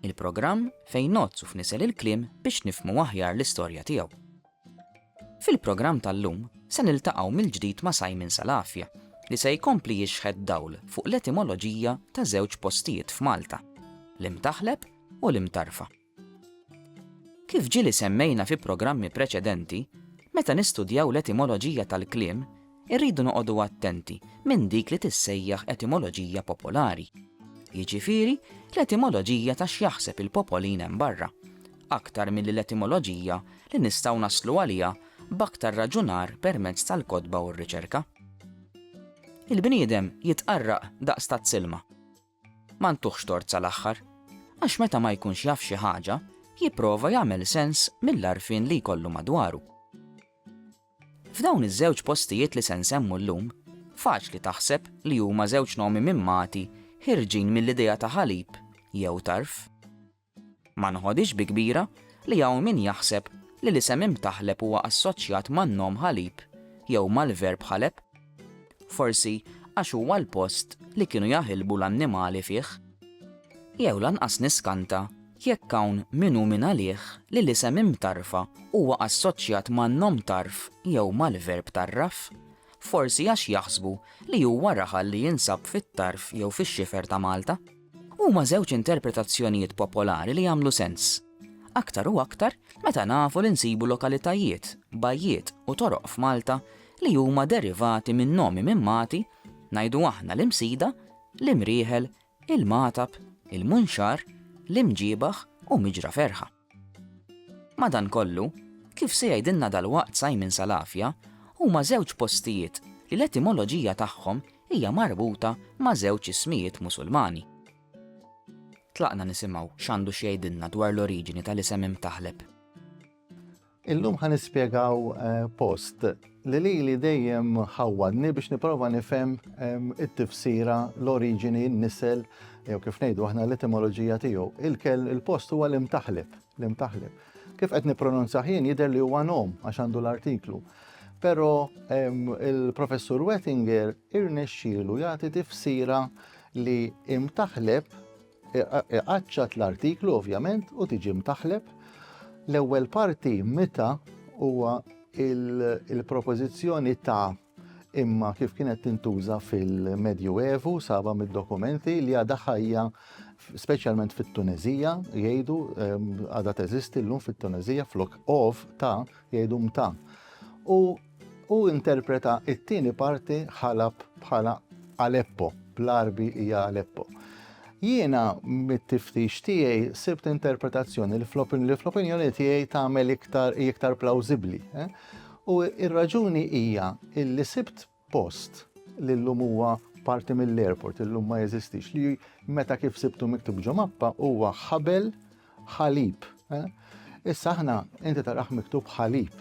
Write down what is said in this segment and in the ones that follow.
Il-programm fejn ngħodd u fnisel il-kliem biex nifhmu aħjar l-istorja tiegħu. Fil-programm tal-lum se niltaqgħu mill-ġdid ma' Simon Salafia li se jkompli jixħet dawl fuq l-etimoloġija ta' żewġ postijiet f'Malta, l-Imtaħleb u l-Imtarfa. Kif ġieli semmejna fi programmi preċedenti, meta nistudjaw l-etimoloġija tal-kliem Irridu noqogħdu attenti minn dik li tissejjaħ etimoloġija popolari, jiġifieri l-etimoloġija ta' x'jaħseb il-popolin hemm barra, aktar milli l-etimoloġija li nistgħu naslu għaliha b'aktar raġunar permezz tal-kotba u r-riċerka. Il-bniedem jitqarraq daqs tazz ilma. Ma ntuhx tort sal-aħħar, għax meta ma jkunx jaf xi ħaġa, jipprova jagħmel sens mill-għarfien li jkollu madwaru. F'dawn iż-żewġ postijiet li se nsemmu llum, faċli taħseb li huma żewġ nomi mimmati ħierġin mill-idea ta' ħalib jew tarf. Ma nħodhiex bi kbira li hawn min jaħseb li l-isem Imtaħleb huwa assoċjat man-nom Ħalib jew mal-verb Ħaleb. Forsi għax huwa l-post li kienu jaħilbu l-annimali fih. Jew lanqas niskanta jekk hawn min hu min għalih li l-isem Imtarfa huwa assoċjat ma' nom tarf jew mal-verb tarraf. Forsi għax jaħsbu li huwa raħal li jinsab fit-tarf jew fix-xifer ta' Malta. Huma żewġ interpretazzjonijiet popolari li jagħmlu sens, aktar u aktar meta nafu li nsibu lokalitajiet, bajjiet u toroq f'Malta li huma derivati minn nomi minn Mati, ngħidu aħna l-Imsida, l-Imrieħel, il-Magħtab, il-Munxar, l-Imġiebaħ u Miġra Ferħa. Madankollu, kif se jgħidilna dalwaqt Simon Salafia, huma żewġ postijiet li l-etimoloġija tagħhom hija marbuta ma' żewġ ismijiet Musulmani. Tlaqna nisimgħu x'għandu x'jgħidilna dwar l-oriġini tal-isem Imtaħleb. Illum ħa nispjegaw post li li li dejjem ħawwadni biex niprofa nifhem it-tifsira, l-oriġini, n-nisel, jew kif ngħidu aħna l-etimoloġija tiegħu. Il-kell il-post huwa l-imtaħlib, l-imtaħlib. Kif qed nippronunza ħin jidher li huwa nom għax għandu l-artiklu. Però il-professur Wettinger irnexxielu jagħti tifsira li imtaħleb Iqaċċat l-artiklu ovvjament u tiġi mtaħleb. L-ewwel parti meta huwa il-propożizzjoni ta' imma kif kienet tintuża fil-Medju Evu saba mid-dokumenti li għadha ħajja speċjalment fit-Tunezija jgħidu ehm, għadha teżisti llum fit-Tunezija flok of ta' jgħidu mta. U Hu interpreta it-tieni parti Ħalab bħala Aleppo, bl-Għarbi hija Aleppo. Jiena mit-tiftix tiegħi sibt interpretazzjoni li fl-opinjoni tiegħi tagħmel iktar iktar plawzibbli. Eh? U ir-raġuni hija illi sibt post li llum huwa parti mill-airport illum ma jeżistix li meta kif sibtu miktub ġo mappa huwa ħabel Ħalib. Eh? Issa aħna inti taraħ miktub ħalib.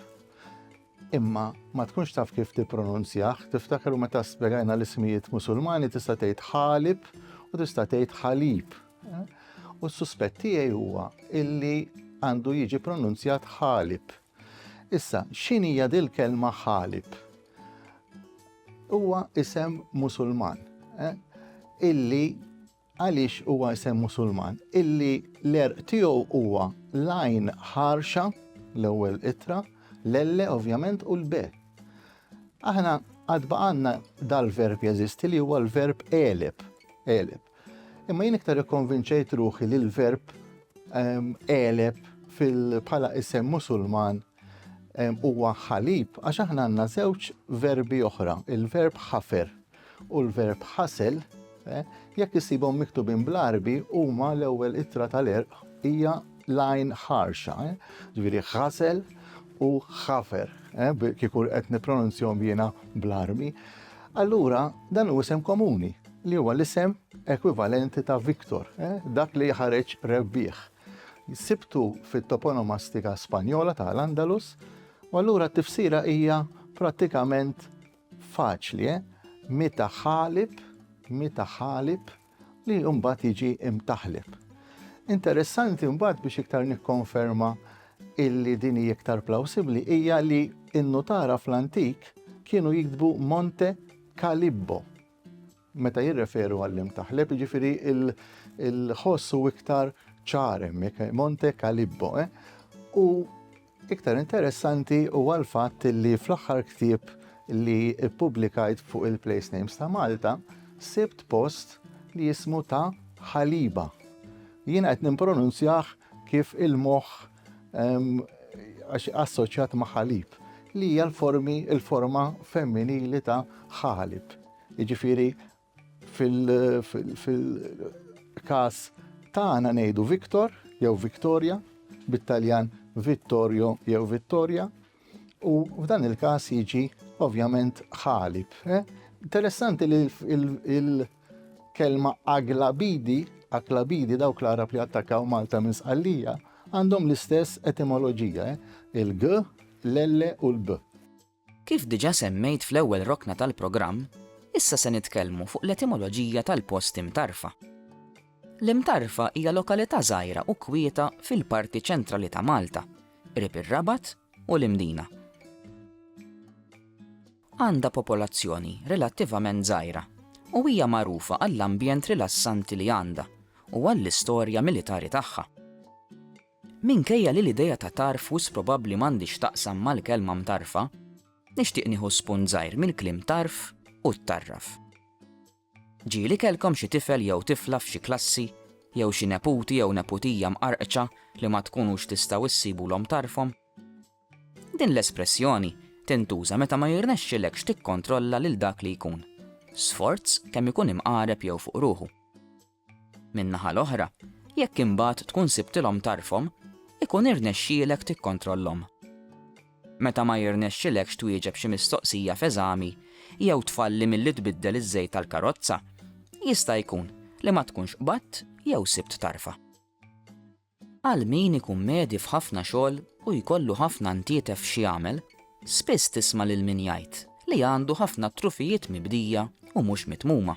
Imma ma tkunx taf kif tippronunzjah, tiftakar u meta spjegajna l-ismijiet musulmani tista' tgħid ħalib u tista' tgħid ħalib. Eh? U s-suspett tiegħi huwa illi għandu jiġi pronunzjat ħalib. Issa, x'inhija dil-kelma ħalib? Huwa isem musulman eh? illi Għaliex huwa isem Musulman? Illi l-għerq tiegħu huwa l-għajn ħarxa, l-ewwel ittra, l-elle ovvjament u l-be. Aħna għad baqanna dal-verb jeżisti li huwa l-verb eleb, eleb. Imma jien iktar ikkonvinċejt ruħi li l-verb ehm, eleb fil-pala isem musulman Huwa ħalib għax aħna għandna żewġ verbi oħra, il-verb ħafer u l-verb ħasel, eh, jekk isibhom miktubin bl-arbi huma l-ewwel ittra tal-erq hija lajn ħarxa, eh, ġifieri ħasel u ħafer, eh, kieku qed nippronunzjom jiena bl-arbi. Allura dan hu isem komuni li huwa l-isem ekwivalenti ta' Viktor, dak li ħareġ rebbieħ. Sibtu fit-toponomastika Spanjola ta' l-Andalus, u allura t-tifsira hija prattikament faċli, eh? Mita ħalib, mita ħalib li mbagħad jiġi imtaħlib. Interessanti mbagħad biex iktar nikkonferma illi din hija iktar plawsibbli hija li n-nutara fl-antik kienu jiktbu Monte Calibbo. Meta jirreferu għall-imtaħleb, jiġifieri l-ħoss hu iktar ċar hemmhekk, Monte Calibbo. Eh? U iktar interessanti huwa l-fatt li fl-aħħar ktieb li ppubblikajt fuq il-place names ta' Malta, sibt post li jismu ta' ħaliba. Jiena qed nimpronunzjah kif il-moħħ għax assoċjat ma' ħalib li hija l-formi il-forma femminili ta' ħalib. Jiġifieri fil-każ tagħna ngħidu Victor jew Victoria, bit-Taljan Vittorio jew Vittoria, u f'dan il-każ jiġi ovvjament ħalib. Eh? Interessanti li il-kelma aglabidi, aglabidi dawk l-Arab li attakkaw Malta minn Sqallija, għandhom l-istess etimoloġija, eh? il-g, l-l u l-b. Kif diġà semmejt fl-ewwel rokna tal-programm, issa se nitkellmu fuq l-etimoloġija tal-post Imtarfa. L-Imtarfa hija lokalità żgħira u kwieta fil-parti ċentrali ta' Malta, qrib ir-Rabat u l-Imdina. Għandha popolazzjoni relattivament żgħira u hija magħrufa għall-ambjent rilassanti li għandha u għall-istorja militari tagħha. Minkejja li l-idea ta' tarf wisq probabbli m'għandhiex x'taqsam mal-kelma mtarfa, nixtieq nieħu spunt żgħir mill-kliem tarf u ttarraf. Ġieli kellkom xi tifel jew tifla f'xi klassi jew xi neputi jew neputija mqarqċa li ma tkunux tistgħu ssibulhom tarfhom? Din l-espressjoni tintuża meta ma jirnexxilekx tikkontrolla lil dak li jkun, sforz kemm ikun imqareb jew fuq ruħu. Min-naħa l-oħra, jekk imbagħad tkun sibtilhom tarfhom, ikun irnexxielek tikkontrollhom. Meta ma jirnexxilekx twieġeb xi mistoqsija f'eżami jew tfalli milli tbiddel iż-żejt tal-karozza, jista' jkun li ma tkunx qbadt jew sibt tarfha. Għal min ikun medji f'ħafna xogħol u jkollu ħafna ntietef x'jagħmel, spiss tisma' lil min jgħid li għandu ħafna trufijiet mibdija u mhux mitmuma.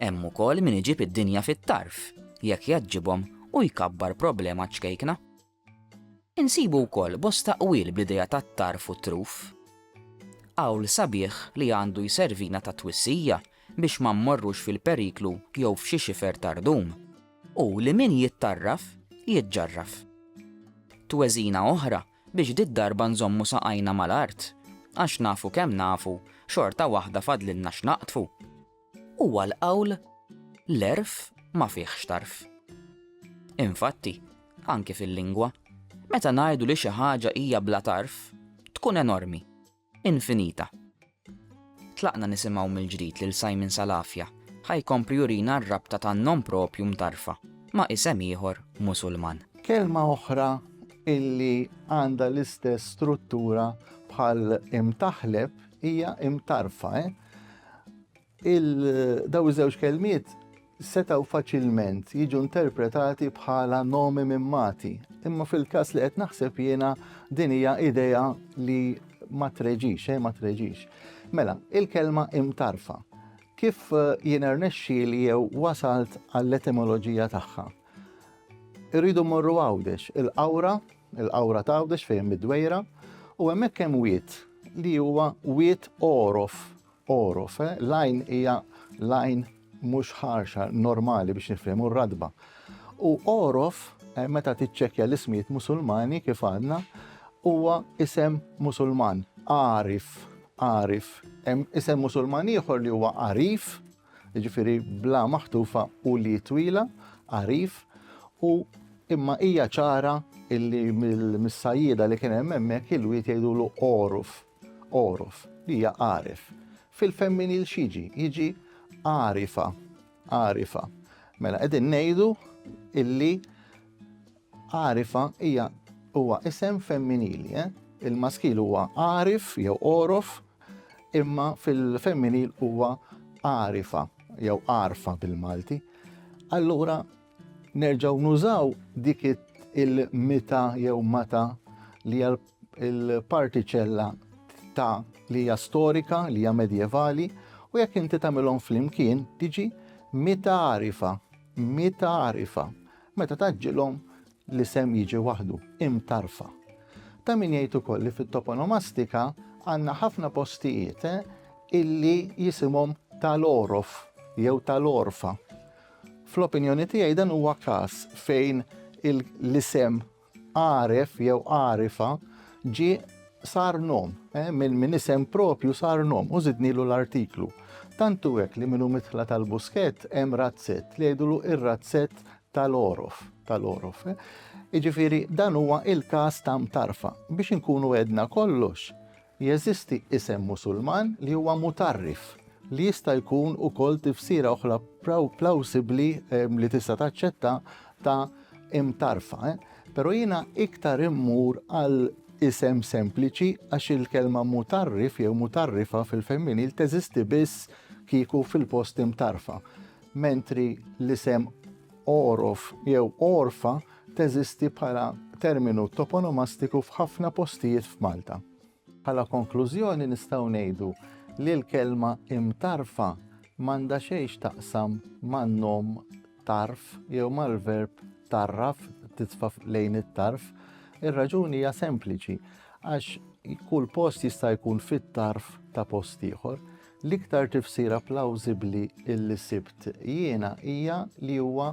Hemm ukoll min iġib id-dinja fit-tarf jekk jgħaġġibhom u jkabbar problema ċkejkna. Insibu wkoll bosta qwil bl-idea tat-tarf u t-truf. Qawl sabiħ li għandu jservina ta' twissija biex ma mmorrux fil-periklu jew f'xi xifer tar-rdum. u li min jittarraf, jiġġarraf. Tweżina oħra biex did-darba nżommu saqajna mal-art, għax nafu kemm nafu, xorta waħda fadlilna x'naqdfu. Huwa l-qawl, L-għerf ma fihx tarf. Infatti, anki fil-lingwa, meta ngħidu li xi ħaġa hija bla tarf, tkun enormi. infinita. Tlaqna nisimgħu mill-ġdid lil Simon Salafia ħa jkompli jurina r-rabta tan-nom propju mtarrfa ma' isem ieħor Musulman. Kelma oħra illi għandha l-istess struttura bħal imtaħleb hija imtarrfa. Il, dawn iż-żewġ kelmiet setgħu faċilment jiġu interpretati bħala nomi minn mati, imma fil-każ li qed naħseb jiena din hija idea li ma treġix, eh, ma treġix. Mela, il-kelma imtarfa. Kif eh, jien ernexxi li jew wasalt għall-etimoloġija tagħha? Irridu morru għawdex, il-qawra, il-qawra ta' għawdex fejn mid-dwejra, u hemmhekk hemm wiet li huwa wiet orof Għoruf, eh? L-għajn hija l-għajn mhux ħarxa normali biex nifhmu r-radba. U għoruf, eh, meta tiċċekkja l-ismijiet Musulmani kif għadna, huwa isem Musulman, għarif, għarif. Hemm isem Musulman ieħor li huwa għarif, jiġifieri bla maħtufa u li twila, għarif, u imma hija ċara illi mill-missajjida li kien hemm hemmhekk il-wiet jgħidulu għoruf. Għoruf, li hija għaref. Fil-femminil x'jiġi? Jiġi għarifa, għarifa. Mela qegħdin ngħidu illi għarifa hija huwa isem femminili, eh? il-maskil huwa għarif jew għorof, imma fil-femminil huwa għarifa jew għarfa bil-Malti. Allura nerġaw nużaw dik il-mita jew mata li għal il-partiċella ta' li hija storika, li hija medjevali, u jekk inti tagħmilhom flimkien tiġi mitarifa, mitarifa. Meta taġġilhom l-isem jiġi waħdu, imtarfa. Ta' min jgħid ukoll li fit-toponomastika għandna ħafna postijiet eh, illi jisimhom tal-orof jew tal-orfa. Fl-opinjoni tiegħi dan huwa każ fejn l-isem Għaref jew għarifa ġie sar nom, eh, minn min isem propju sar nom u żidnilu l-artiklu. Tantu hekk li minnu mitħla tal-buskett hemm razzett li jgħidulu ir-razzett tal-orof, tal-orof. Eh. Iġifiri, dan huwa il-kas ta' mtarfa. Biex inkunu edna kollox, Jeżisti isem Musulman li huwa mutarrif, li jista' jkun ukoll tifsira oħra plawsibbli ehm, li tista' taċċetta ta' imtarfa. Eh? Però jiena iktar immur għal isem sempliċi għax il-kelma mutarrif jew mutarrifa fil-femminil teżisti biss kieku fil-post imtarfa. Mentri l-isem orof jew orfa teżisti bħala terminu toponomastiku f'ħafna postijiet f'Malta. Bħala konklużjoni nistgħu ngħidu li l-kelma imtarfa m'għandha xejn x'taqsam man-nom tarf jew mal-verb tarraf titfa' lejn it-tarf. Ir-raġuni hija sempliċi għax kull post jista' jkun fit-tarf ta' post ieħor. L-iktar tifsira plawzibli illi sibt jiena hija li huwa